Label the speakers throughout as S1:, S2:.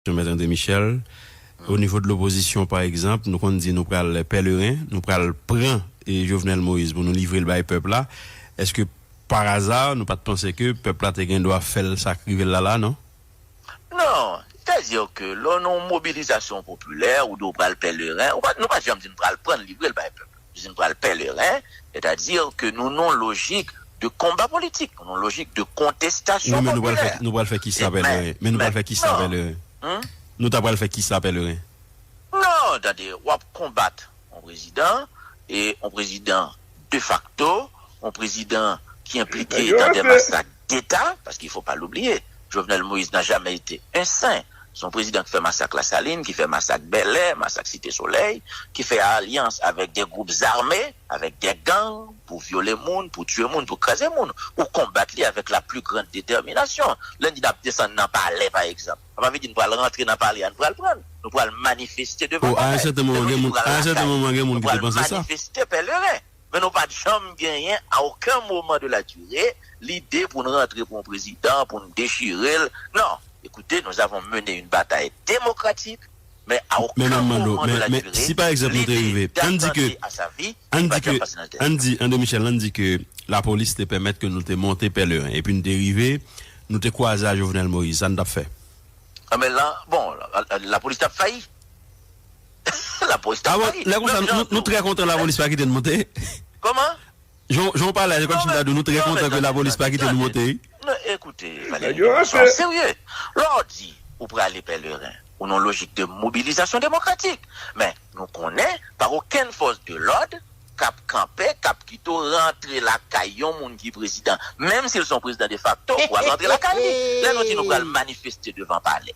S1: Mèt André Michel, O nivo de lopozisyon pa egzanp nou konn di nou pral pèleren, nou pral pran Jovenel Moïse pou nou livre l bay pèp la, èske paraza nou pa t panse ke pèp la te gen dwa fè l sa k rive l la la non? Non,
S2: sètadi ke lè w nan yon mobilizasyon popilè ou di w pral pèleren, nou pa t janm di nou pral pran l livre l bay pèp la. vin pral pèleren, sètadi ke nou non lojik de konba politik, nou non lojik de kontestasyon popilè. Wi, men nou pral
S1: fè kisa
S2: pèleren?
S1: Men nou pral fè kisa pèleren? Nou ta pral fè kisa pèleren? Non,
S2: tande, w ap konbat yon prezidan, e yon prezidan defakto, yon prezidan ki enplike nan de masak deta, paske fò pa l oubliye, Jovenel Moïse n'a jamais été un saint. Se yon prezidan ki fè masak Lasalin, ki fè masak Bèlè, masak Site Solèy, ki fè alyans avèk de gwoup zame, avèk de gang pou vyole moun, pou tiye moun, pou kraze moun. Ou konbat li avèk la pli grand detèminasyon. Lè n di n'ap desann nan palè pa egzanp, sa pa vle di n pral rantre nan palè a, n pral pran l. Nou pral manifeste devan palè. Lè nou di nou
S1: pral Lakay, nou pral manifeste pèleren.
S2: men nou pa t janm genyen a oken moman de la dire lide pou n rantre pou yon prezidan, pou n dechire l. Non, ekoute, nou avon mene yon batay demokratik, men a oken moman de la dire lide datante a sa vi li pa t janm pase nan tèt
S1: nou. Andy, André Michel, ann di ke lapolis te pèmèt ke nou te monte Pèlerin epi n te rive, nou te kwaze a Jovenel Moïse, sa n t ap fè? Anben, lan,
S2: bon, lapolis t ap fayi. Lapolis ta pale. Lè konsa nou trè kontan
S1: lapolis pa kite nou monte. Koman?
S2: Jan ou
S1: pale a se kòm si m ta di w nou trè kontan ke lapolis pa kite nou monte wi. Men ekoute
S2: Valery nou sou an serye. Lè w di ou prale Pèleren ou nan lojik de mobilizasyon demokratik. Men nou konnen pa okenn fòs de lòd k ap kanpe, k ap kite w rantre lakay yon moun ki prezidan. Menm si l se yon prezidan defakto ou ap rantre lakay li. Lè nou di nou pral manifeste devan palè.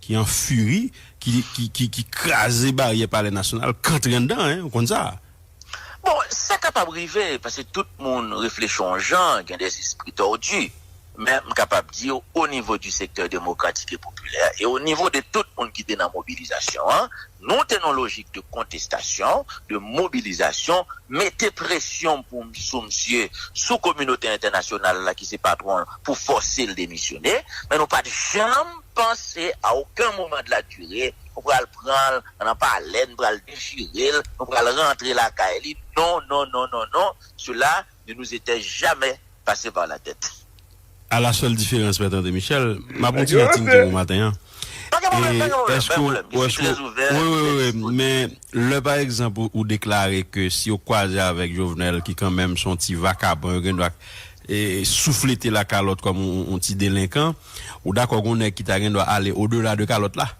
S1: ki an furi, ki kraze baryè palè nasyonal, k antre anndan, hein, ou konn sa. Bon,
S2: sa kapab rive, paske tout moun reflechi on jan, gen des esprits tordus, men m kapab di w, au niveau du secteur démocratique et populaire, et au niveau de tout moun ki te nan mobilisation an, Nou te nan yon lojik de kontestasyon, de mobilizasyon, mete presyon pou sou misye, sou kominote entènasyonal la ki se patwon l pou fòse l demisyone, men nou pat janm panse a oken moman de la dure nou pral pran l nan palè, n pral dechire l, nou pral rantre lakay li, non, non, non, non, non, sela. Ne nous etait jamais passé par la tête. A la sèl
S1: diferans mèt André Michel, m ap on ti jan tintin pou maten an. Pa gen pwoblèm, pa gen pwoblèm, pa gen pwoblèm, je suis très ouvert, très disponible. Wi, wi, wi, men lè pa egzanp ou deklare ke si yo kwaze avèk Jovenel ki kanmenm son ti vakabon yo gendwa souflete la kalòt kòm on ti delenkan, ou dakò gon nèg ki ta gendwa ale au delà de kalòt la?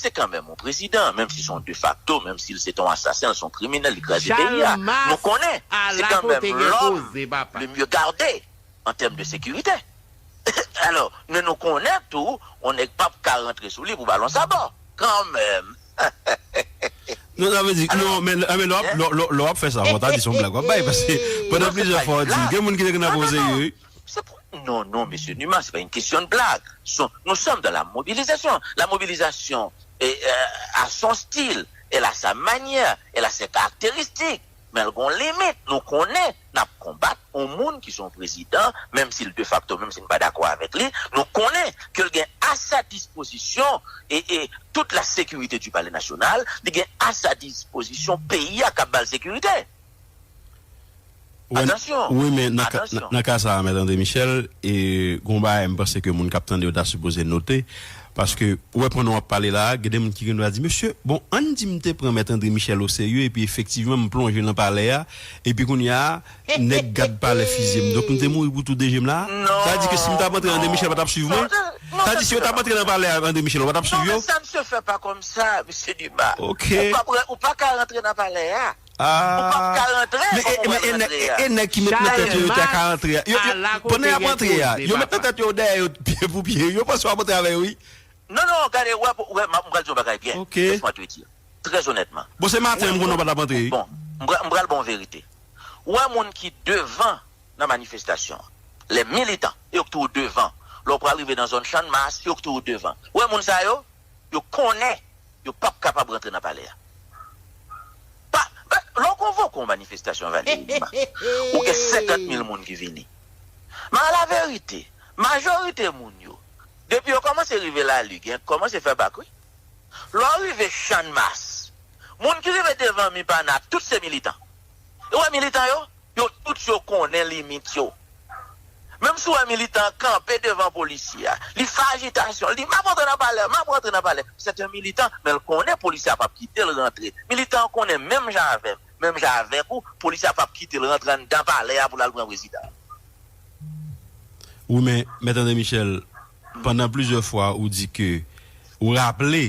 S2: Se kanmenm yon prezidan, menm si se yon defakto, menm si l se te yon asasen, l se yon kriminèl, li kraze peyi a. Nou konnen, se kanmenm lòm le mye gade an tèm de sekirite. Alò, men nou konnen tou, yon nèg pap ka rantre sou li pou balon sabò. Kanmenm!
S1: Non, sa vle di, non, men lè w ap fè sa, fò w ta di se yon blag w ap bay, paske pandan plizyè fwa w di, gen moun ki te gen nan pran w o serye wi. Se pou Non non
S2: mesye Numa se pa yn kesyon de blag son nou sòm dan la mobilizasyon la mobilizasyon a son stil el a sa manyè el a sè karakteristik men l gon limit nou konnen nap konbat on moun ki son prezidan menm sil de fakto menm si n pa dakò avèk li nou konnen ke l gen a sa dispozisyon e tout la sekirite di palè nasyonal li gen a sa dispozisyon peyi a kap ba l sekirite. Atansyon! Wi men
S1: nan ka sa a
S2: Mèt Andre
S1: Michel, gen yon bagay m panse ke moun k ap tande yo ta sipoze note, paske ou wè pandan w ap pale la a, gen de moun ki gendwa di, mesye, bon, ann di m te pran Mèt Andre Michel oserye epi efektivman m plonje nan palè a, epi kounye a nèg gad palè fizye m. Donk m te mouri pou tou de je m la a? Sa vle di ke si m t ap antre Andre Michel pa t ap swiv mwen? Sa vle di si yo t ap antre nan palè a Andre Michel yo pa t ap swiv yo? Non men sa misye fè pa
S2: kòmsa, misye Dumas. Ou
S1: pa ka
S2: rantre nan palè a. Ou pap ka
S1: rantre kòm ou pral rantre a. Chalmay ala kote gen koze papa. Non non gade
S2: wè pou wè mwen pral di yon bagay byen laisse moi te dire très
S1: honnêtement mwen pral ba
S2: w verite ou wè moun ki devan nan manifestation an les militants yo ki toujou devan lè w pral rive nan zòn channmas yo ki toujou devan ou wè moun sa yo yo konnen yo pap kapab rantre nan palè a pa pa lè w konvoke yon manifestasyon Valéry Numa ou gen 50 mil moun ki vini men alaverite majorite moun yo depi yo kòmanse rive lali gen k kòmanse fè bak wi lè w rive channmas moun ki rive devan mi pa na tout se militan. E ou wè militan yo? Yo tout yo konnen limit yo. Menm si ou wè militan an kanpe devan polisye a, li fè ajitasyon l, li di, M ap rantre nan palè, m ap rantre nan palè. Sèt en militan, men l konnen polisye a p ap kite l rantre. Militan an konnen menm jan avè m, menm jan avèk ou, polisye a p ap kite l rantre anndan palè a pou l al pran prezidan an.
S1: Wi men, Mèt André Michel, pandan plizyè fwa ou di ke, ou raple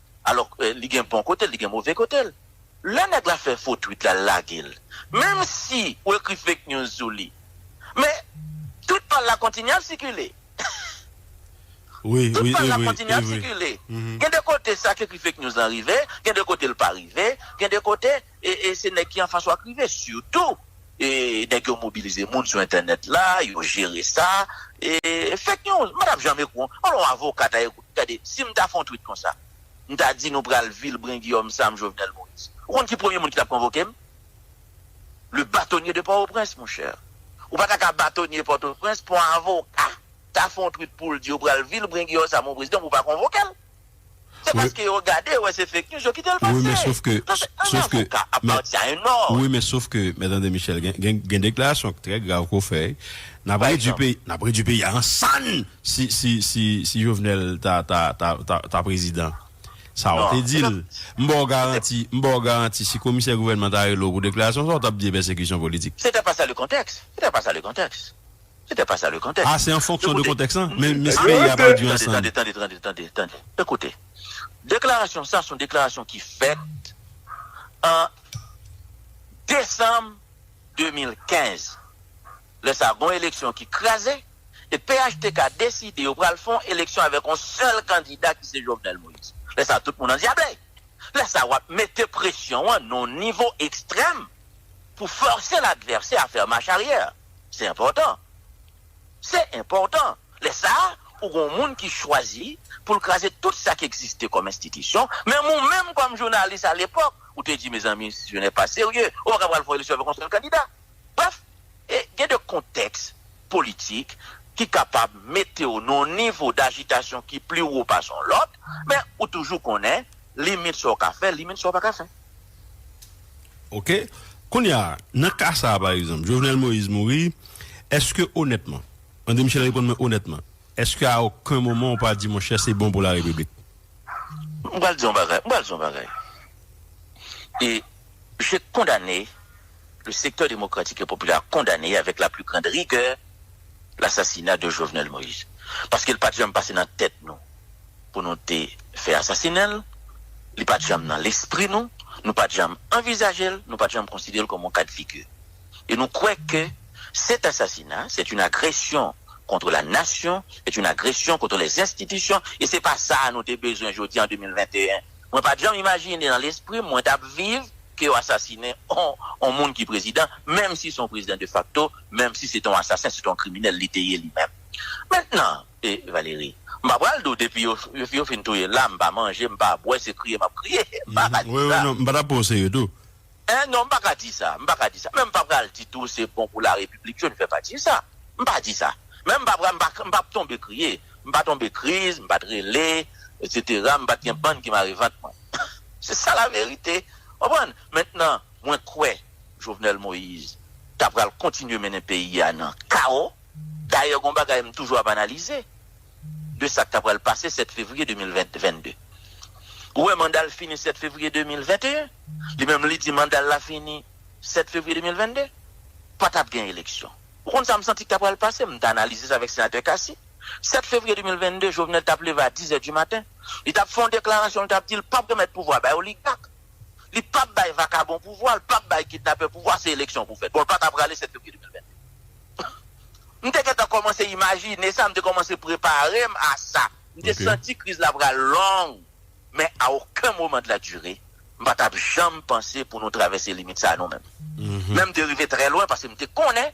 S2: Alò li gen bon kote l, li gen move kote l. Lè nèg la fè fo tweet la, l lage l. Menm si ou ekri fake news sou li. Men, tweet pa l la kontinye ap sikile. Tweet
S1: pa l la kontinye
S2: ap sikile. Gen de kote sa k ekri fake news lan rive, gen de kote l pa rive, gen de kote. E se nèg ki anfas ou ak rive. Sitou nèg yo mobilize moun sou entènèt la, yo jere sa. Fake news. Madam Jean Mecou an, an lon avoka ta ye kou. Gade, si m ta fè yon tweet konsa, m ta di nou pral vilbren Guillaume Sam Jovenel Moïse. Ou konn ki premye moun ki tap konvoke m? Le batonye de Port-au-Prince, mon cher. Ou pa ta ka batonye Port-au-Prince pou yon avoka ta fè yon tweet pou l di yo pral vilbren Guillaume Sam yon prezidan pou w pa konvoke l. Se paske yo gade yo wè se fake news yo kite l pase. Nan yon
S1: avoka ap pati a yon nòt. Wi men sof ke Mèt André Michel gen deklarasyon k trè grav ke w fè. N ap redwi peyi a an sann si Jovenel ta prezidan. Sa w te di l. M ba w garanti, m ba w garanti si komisè gouvènman ta rele w pou deklarasyon sa w t ap di e pèsekisyon politik. Se te pa sa le kontèks.
S2: Se te pa sa le kontèks. Sete pa sa le
S1: konteks. Ah se an fonksyon de konteks lan? Men miss peyi a pral du an san. Tande tande tande tande
S2: ekoute deklarasyon sa son deklarasyon ki fèt an desanm 2015 lè sa gon eleksyon ki kraze e phtk deside yo pral fon eleksyon avèk on sèl kandida ki se Jovenel Moïse lè sa tout moun andyable lè sa wap mete presyon an non nivo ekstrèm. pou fòse l advèsè a fè mach aryè. Se enpòtan. Se enpòtan. Lè sa a, ou gen yon moun ki chwazi pou l kraze tout sa ki egziste kòm enstitisyon, menm ou menm kòm jounalis alepòk, ou te di, mezanmi, si je ne pas serye, ou pa ka pral fè yon eleksyon avèk yon sèl kandida. Brèf, gen de kontèks politik ki kapab mete w nan yon nivo dajitasyon ki pli wo pase yon lòt, men ou toujou konnen Limit sa w ka fè, limit sa w pa ka fè.
S1: Ok. Kounye a, nan ka sa a pa egzanp, Jovenel Moïse mouri, èske onètman, André Michel reponn mwen onètman, èske a oken moman ou pa di monchè se bon pou la Repiblik? M
S2: pral di yon bagay, m pral di yon bagay. E, je kondane. Le secteur democratique et populaire a kondane avèk la plus grande rigueur l'assassinat de Jovenel Moïse. Paske li pat janm pase nan tèt nou pou nou te fè asasinen l, li pat janm nan lespri nou, nou pat janm anvizaje l, nou pat janm konsidere l kòm yon ka de figure. Et nou kwè ke cet assassinat c'est une agression contre la nation, c'est une agression contre les institutions et se pa sa a nou te bezwen jodi an 2021. Mwen pat janm imajine nan lespri m mwen tap viv ke yo asasinen on moun ki prezidan, menm si se yon prezidan de facto, menm si se te yon asasen, se te yon kriminèl li te ye li menm. Mentnan, Valéry, m pa pral di w depi yo fin touye l la, m pa manje, m pa bwè, se kriye m ap kriye. M pa ka di sa.
S1: M pa ta pran w serye tou. Hein, non, m pa ka
S2: di sa. M pa ka di sa. Menm m pa pral di tou se bon pou larepiblik, je ne vais pas dire ça. M pa di sa. Menm m pa pral, m pa tonbe kriye. M pa tonbe kriz, m pa t rele, etc. M pa t gen bann ki mare vant mwen. Se sa la verite konprann mentnan mwen kwè Jovenel Moïse ta pral kontinye mennen peyi a nan kawo dayè gon bagay m toujou ap analize de sak ta pral pase 7 fevriye 2022 ou wè manda l fini 7 fevriye 2021 li menm li di manda l la fini 7 fevriye 2022 pa tap gen eleksyon. Ou konn sa m santi k ta pral pase? M te analize sa avèk Senatè Cassy. 7 fevriye 2022, Jovenel t ap leve a dizè di maten. Li t ap fè yon deklarasyon, li t ap di l pap remèt pouvwa a bay oligak. Li pap bay vakabon pouvwa a, l pap bay kidnapè pouvwa a, se eleksyon pou fèt. Bon, l pa t aprale 7 fevriye 2022. M te gentan kòmanse imajine sa, m te kòmanse prepare m a sa. M te santi kriz la pral long. Men a oken moman de la dure, m pa t ap janm panse pou nou travèse limit sa a nou menm. Men m te rive trè lwen paske m te konnen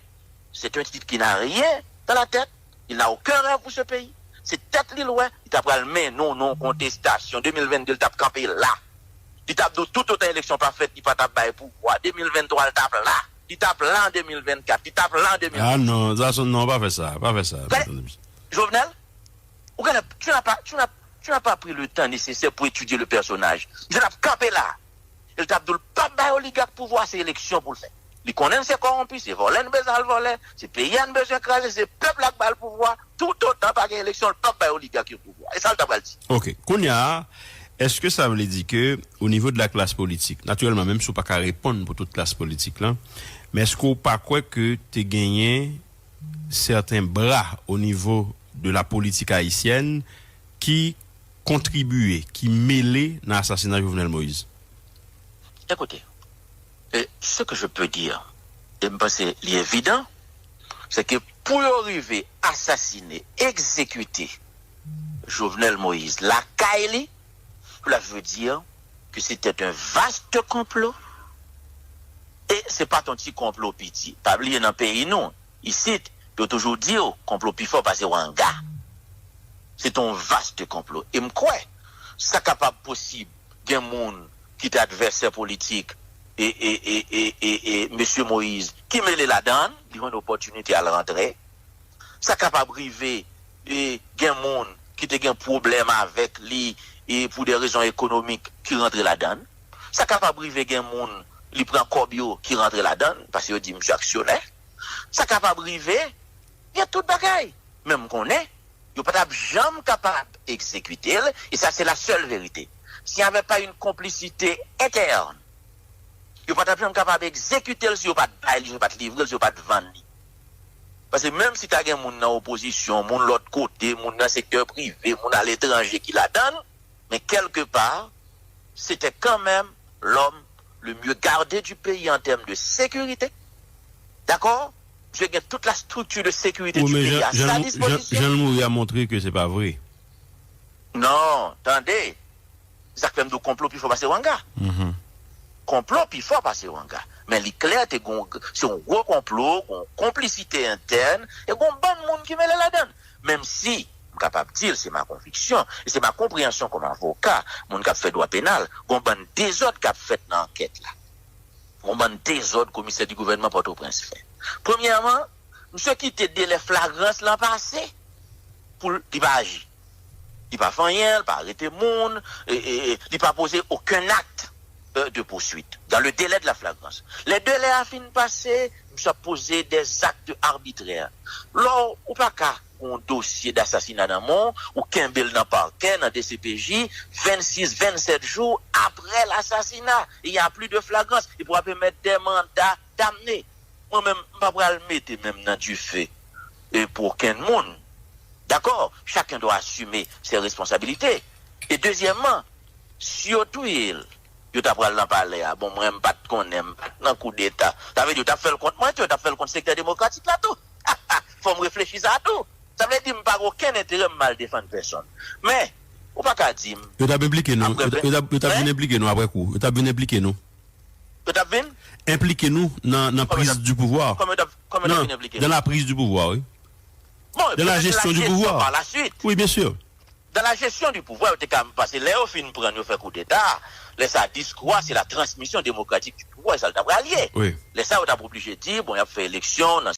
S2: c'est un type qui n'a rien dans la tête, il n'a aucun rêve pour ce pays. Se tèt li l wè, li ta pral mennen nou nan yon kontestasyon. 2022 l t ap kanpe la. Li t ap di w toutotan eleksyon pa fèt li pa t ap bay pouvwa. 2023 l t ap la. Li t ap la an 2024. Li t ap la an 2025. Ah non, Zason, non
S1: pa fè sa, pa fè sa. Gade, Jovenel.
S2: Ou ka ap, tu n'as pas, tu n'as, tu n'as pas pris le temps nécessaire pou étudier le personnage. Misye tap kanpe la. E li tap di w li pap bay oligak pouvwa a, se eleksyon pou l fè. Li konnen l se kowonpi, se vòlè n bezwen al vòlè, se peyi a n bezwen kraze, se pèp la k ba l pouvwa a, toutotan pa gen eleksyon l pap bay oligak yo pouvwa a. E sa l ta pral di. Ok. Kounya a,
S1: eske sa vle di ke o nivo de la klas politik, natirèlman menm si w pa ka reponn pou tout klas politik lan, men eske w pa kwè ke te genyen. sèten bra o nivo de la politik ayisyèn ki kontribiye, ki mele nan asasina Jovenel Moïse.
S2: Ekoute, e se ke je peux dire, e m panse li evidan, se ke pou yo rive asasine, egzekite Jovenel Moïse lakay li, pou la je veux dire, que c'etait un vaste complot e se pat yon ti konplo piti. Pa bliye nan peyi nou isit yo toujou di w konplo pi fò pase wanga. Se te yon vaste konplo e m kwè sa kapab posib gen moun ki te advèsè politik e mesye Moïse ki mele ladan li jwenn opòtinite al rantre. Sa kapab rive gen moun ki te gen pwoblèm avèk li pou de rezon ekonomik ki rantre ladan l. Sa kapab rive gen moun li pran kòb yo ki rantre ladan l, paske yo di misye aksyonè. Sa kapab rive gen tout bagay. Men m konnen yo pa t ap janm kapab egzekite l, e sa se la sèl verite. S'il n'y avait pas une complicité interne, yo pa t ap janm kapab egzekite l si yo pa t bay li, si yo pa t livre l, si yo pa t vann li. Pase menm si ta gen moun nan opozisyon, moun lòt kote, moun nan sektè prive, moun aletranje ki ladan l, men kèlke pa, se te kanmenm lòm le mye garde du peyi an tèm de sekirite. Dakò? Misye gen tout la strikti de sekirite du peyi a sa dispozisyon. Jan l mouri a montre ke
S1: se pa vre. Non,
S2: tande! Sak fèm diw konplo pi fò pase wanga. Konplo pi fò pase wanga. Men li klè te gon se yon gwo konplo, gon konplisite entèn e gon bann moun ki mele ladann. Menm si m kapab dil se ma konviksyon e se ma konpreyansyon kòm avoka, moun kap fè dwa penal, gon bann dezòd kap fèt nan ankèt la. Gon bann dezòd komisè di gouvènman Pòtoprens fè. Premyèman, misye kite delè flagrans lan pase poul li pa aji. Li pa fè anyen, li pa arete moun, li pa poze okenn akt de pousuit dan le delè de la flagrans. Lè delè a fin pase, misye ap poze dè akt arbitrè. Lò ou pa ka pou yon dosye dasasina nan men w, ou kenbe l nan pakè, nan dcpj, 26, 27 jou aprè lasasina, il y a plus de flagrance, epi w ap emèt dè manda damne. Mwen menm m pa pral mete menm nan dife pou okenn moun. Dakò, chacun doit assumer ses responsabilités. E dezyèman, si yo touye l, yo ta pral nan palè a, bon mwen m pa t konnen, m pa t nan koudeta. Sa vle di yo t ap fè l kont mwen tou, yo t ap fè l kont sektè demokratik la tou. Ha ha! Fò m reflechi sa tou. Sa vle di m pa gen okenn enterè m mal defann pèsonn. Men, ou pa ka di m, Yo t ap enplike nou,
S1: yo t ap vin enplike nou aprè kou. Yo t ap vin enplike nou. Yo tap vin?
S2: Enplike nou nan
S1: nan prise du pouvoir. Kòman yo tap kòman yo tap vin
S2: enplike nou? Dans la prise du pouvoir wi.
S1: Bon, dans la
S2: gestion du
S1: pouvoir par la suite. Oui bien
S2: sûr.
S1: Dans la gestion
S2: du pouvoir yo te ka pase lè yo fin pran yo fè koudeta, lè sa diskou a se la transmission démocratique du pouvoir e sa l ta pral ye. Oui. Lè sa
S1: yo
S2: tap oblije di bon yap fè eleksyon nan.